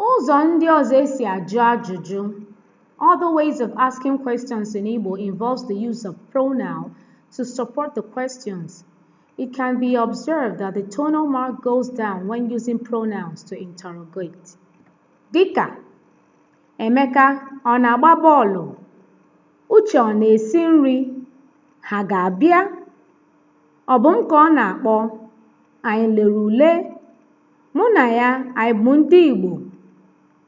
Ụzọ ndị ọzọ e si ajụ ajụjụ Other ways of asking questions in Igbo involves the use of pronoun to support the questions. It can be observed that the tonal mark goes down when using pronouns to interrogate. Dịka, Emeka ọ na-agba bọọlụ? Uche ọ na-esi nri? Ha ga-abịa? Ọ bụ m ka ọ na-akpọ. Anyị lere ule. Mụ na ya anyị bụ ndị Igbo.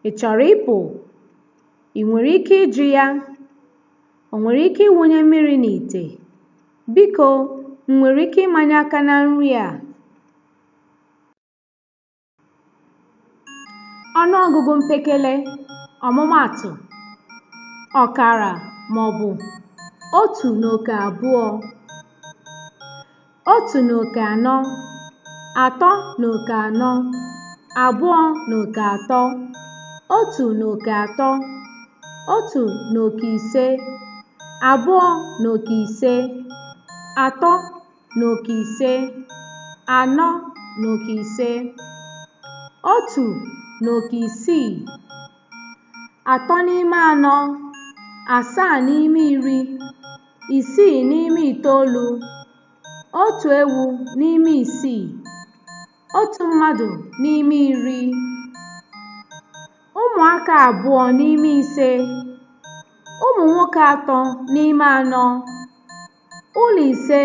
Ị chọrọ ịpụ? Ị nwere ike ịjụ ya? O nwere ike ịwụnye mmiri n'ite? Biko, m nwere ike ịmanye aka na nri a? Ọnụọgụgụ mpekele, ọmụmaatụ, ọkara maọbụ otu na oke abụọ, otu na oke anọ, atọ na oke anọ, abụọ na oke atọ, otu na oke atọ, otu na oke ise, abụọ na oke ise, atọ na oke ise anọ na oke ise otu na oke isii atọ n'ime anọ asaa n'ime iri isii n'ime itoolu otu ewu n'ime isii otu mmadụ n'ime iri ụmụaka abụọ n'ime ise ụmụ nwoke atọ n'ime anọ Ụlọ ise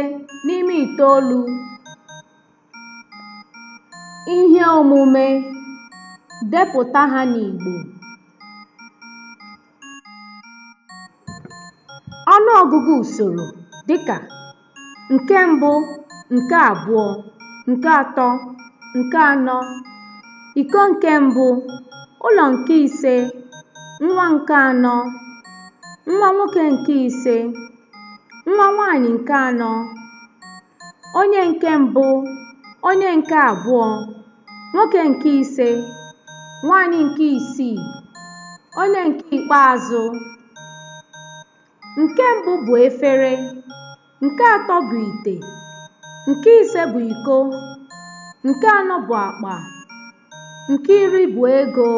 n'ime itoolu ihe omume depụta ha n'Igbo ọnụọgụgụ usoro dịka nke mbụ nke abụọ nke atọ nke anọ iko nke mbụ ụlọ nke ise nwa nke anọ nwa nwoke nke ise nwa nwaanyị nke anọ onye nke mbụ onye nke abụọ nwoke nke ise nwaanyị nke isii onye nke ikpeazụ nke mbụ bụ efere nke atọ bụ ite nke ise bụ iko nke anọ bụ akpa nke iri bụ ego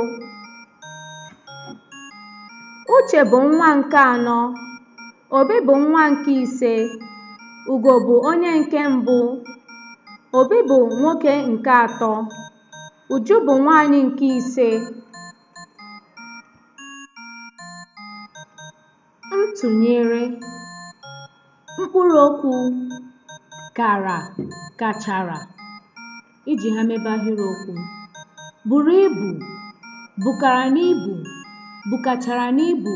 uche bụ nwa nke anọ Obi bụ nwa nke ise. Ugo bụ onye nke mbụ. Obi bụ nwoke nke atọ. Uju bụ nwaanyị nke ise. Ntụnyere mkpụrụ okwu kara, kachara iji ha mebe ahịrịokwu. Buru ibu, bukara n'ibu, bukachara n'ibu.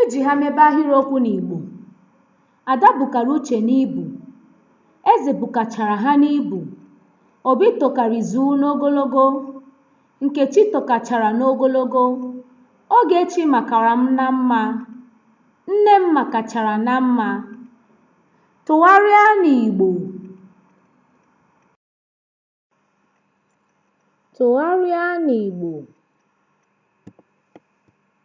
Iji ha mebe ahịrịokwu n'Igbo. Ada bukara Uche n'ibu. Eze bukachara ha n'ibu. Obi tokara Izu n'ogologo. Nkechi tokachara n'ogologo. Ogechi makara m na mma. Nne m makachara na mma. Tụgharịa n'Igbo. Tụgharịa n'Igbo.